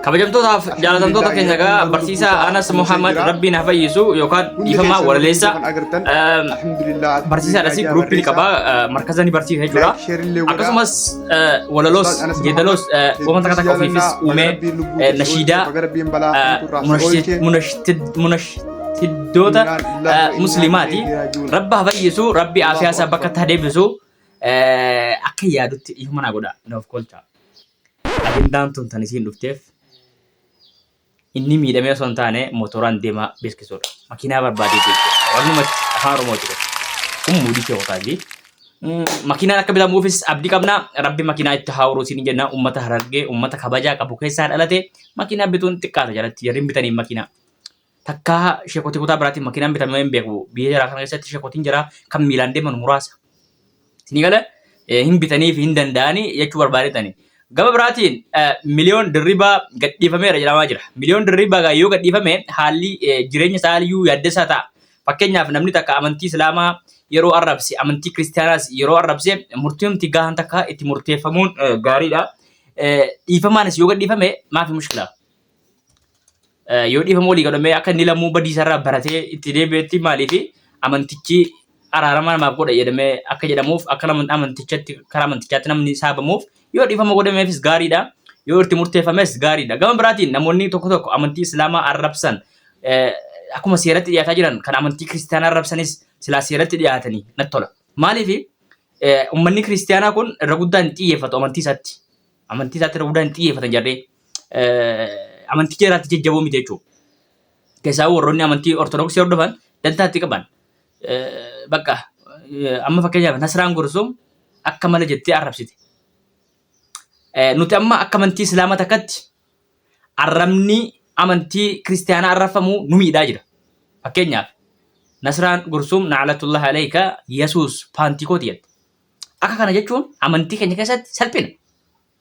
Kabajamtootaaf jaalatamtoota keenya egaa barsiisaa Anas Muhammad Rabbiin haa fayyisu yookaan dhiifamaa walaleessa barsiisaa dhasii guruuppii qaba markaza ni barsiisa jechuudha. Akkasumas walaloos geedaloos wanta takka takka ofiifis uumee nashiidaa munashiddoota musliimaati. Rabbi haa fayyisu rabbi aafiyaa isaa bakka itti haa deebisu akka yaadutti dhiifama naa godha naaf kolcha. Ajandaan tun tan isiin dhufteef inni miidhamee osoo hin taane motoraan deemaa beeksisuudha. Makiinaa barbaadee jechuudha. Walumatti afaan Oromooti kun. Kun muudii kee qofaati. Makiinaan akka bitamuufis abdii qabna. Rabbi makiinaa itti haa horuu siin jenna. Uummata harargee, uummata kabajaa qabu keessaa dhalate makiinaa bituun xiqqaata jalatti jarri hin bitaniif makiinaa. Takkaa sheekotii kutaa biraatiin makiinaan bitamee hin beeku. Biyya jaraa kana keessatti sheekotiin jaraa kan miilaan deeman muraasa. Isinii gala hin bitanii fi hin danda'anii jechuu barbaadetani. Gama biraatiin miliyoon dirribaa gadhiifameera jedhamaa jira. Miliyoon dirribaa gaa yoo gadhiifame haalli jireenya isaa aliyyuu yaaddessaa ta'a. Fakkeenyaaf namni takka amantii Islaamaa yeroo arrabse amantii Kiristiyaanaas yeroo arrabse murtiimti gahaan takka itti murteeffamuun gaariidha. Dhiifamaanis yoo gadhiifame maafi mushkilaa? yoo dhiifama walii godhamee akka inni lammuu badiisarraa baratee itti deebi'etti maaliif amantichi araarama namaaf godha jedhamee akka jedhamuuf akka nama amantichatti karaa amantichaatti namni saabamuuf yoo dhiifama godhameefis gaariidha yoo itti murteeffames gaariidha gama biraatiin namoonni tokko tokko amantii islaamaa arrabsan eh, akkuma seeratti dhiyaataa jiran kan amantii kiristaanaa arrabsanis silaa seeratti dhiyaatanii natti tola maaliif eh, ummanni kiristaanaa kun irra guddaan hin xiyyeeffatu amantii isaatti amantii isaatti irra guddaan hin xiyyeeffatan jarree amanticha irratti jajjaboo miti jechuudha. Keessaa warroonni amantii Ortodoksii hordofan dantaatti qaban bakka amma fakkeenyaaf Nasraan Gursum akka mala jettee arrabsite. Nuti amma akka amantii Islaamaa takkatti arrabni amantii Kiristaanaa arrabfamu nu miidhaa jira. Fakkeenyaaf Nasraan Gursum Na'alatullah Aleeyka Yesuus Paantikooti jette. Akka kana jechuun amantii keenya keessatti salphina.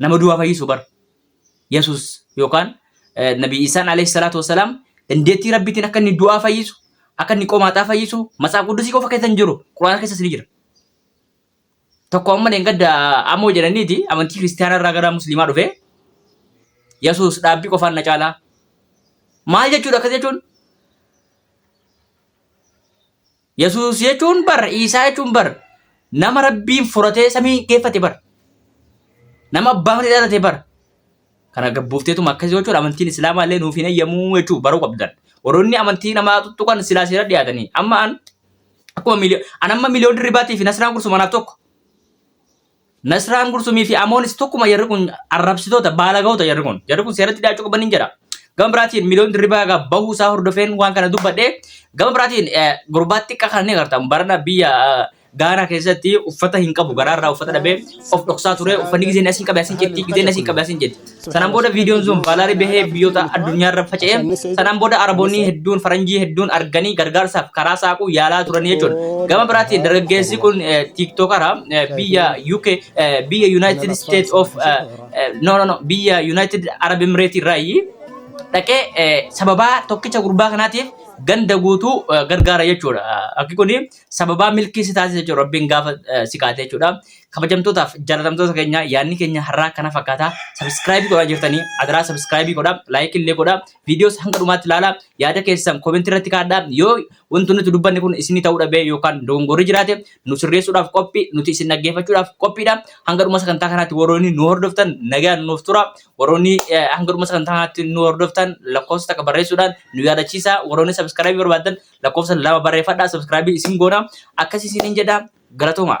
nama du'aa fayyisu bar yesus yookaan nabi isaan alayhi salaatu wasalaam dandeettii rabbiitiin akka inni du'aa fayyisu akka inni qomaaxaa fayyisu matsaaf quddusii qofa keessa hin jiru quraana keessas ni jira tokko amma dheengadda amoo jedhaniiti amantii kiristaanaa irraa gara musliimaa dhufe yesus dhaabbii qofaan na caalaa maal jechuudha akkas jechuun Yesuus jechuun bar Iisaa jechuun bar nama rabbiin furatee samii geeffate bar nama abbaa malee dhalate bar kana gabbuufteetuma akkasii gochuun amantiin islaamaa illee nuuf hin eyyamuu jechuu baruu qabdan warroonni amantii namaa tuttuqan silaa seera dhiyaatanii amma an akkuma miliyoon an amma miliyoon dirribaatii fi nasiraan kursuma naaf tokko Nasraan Gursumii fi Amoonis tokkuma jarri kun arrabsitoota baalagahoota jarri kun jarri kun seeratti dhiyaachuu qaban hin jedha. Gama biraatiin miliyoon dirribaa egaa bahuu isaa hordofeen waan kana dubbadhe gama biraatiin gurbaa xiqqaa kana ni agarta barana biyya Gaanaa keessatti uffata hin qabu garaarraa uffata dhabee of dhoksaa ture uffanni gizeen asiin qabe asiin jetti gizeen asiin qabe asiin jetti. Sanaan booda viidiyoon sun vaalaarii bahee biyyoota addunyaarra faca'e. Sanaan booda Araboonni hedduun faranjii hedduun arganii gargaarsaaf karaa saaquu yaalaa turanii jechuudha. Gama biraatiin dargaggeessi kun tiiktookara biyya UK biyya United States of no no no biyya United Arab Emirates irraayi dhaqee sababaa tokkicha gurbaa kanaatiif ganda guutuu gargaara jechuudha. Akki kun sababaa milkii si taasisa jechuudha. Rabbiin gaafa si kaate jechuudha. kabajamtootaaf jaalatamtoota keenya yaadni keenya har'aa kana fakkaata. Sabiskiraayibii godhaa jirtanii adaraa sabiskiraayibii godhaa laayikii illee godhaa viidiyoos hanga dhumaatti ilaalaa yaada keessan koomentii irratti kaadhaa yoo wanti nuti dubbanne kun isinii ta'uu dhabee yookaan dogongorri jiraate nu sirreessuudhaaf qophii nuti isin dhaggeeffachuudhaaf qophiidha. Hanga dhuma sagantaa kanaatti warroonni nu hordoftan nagaan nuuf tura. Warroonni eh, hanga dhuma sagantaa kanaatti nu hordoftan lakkoofsa takka barreessuudhaan nu yaadachiisa. Warroonni sabiskiraayibii barbaadan lakkoofsa lama barreeffadhaa subscribe isin goona akkasii isiniin jedha galatoomaa.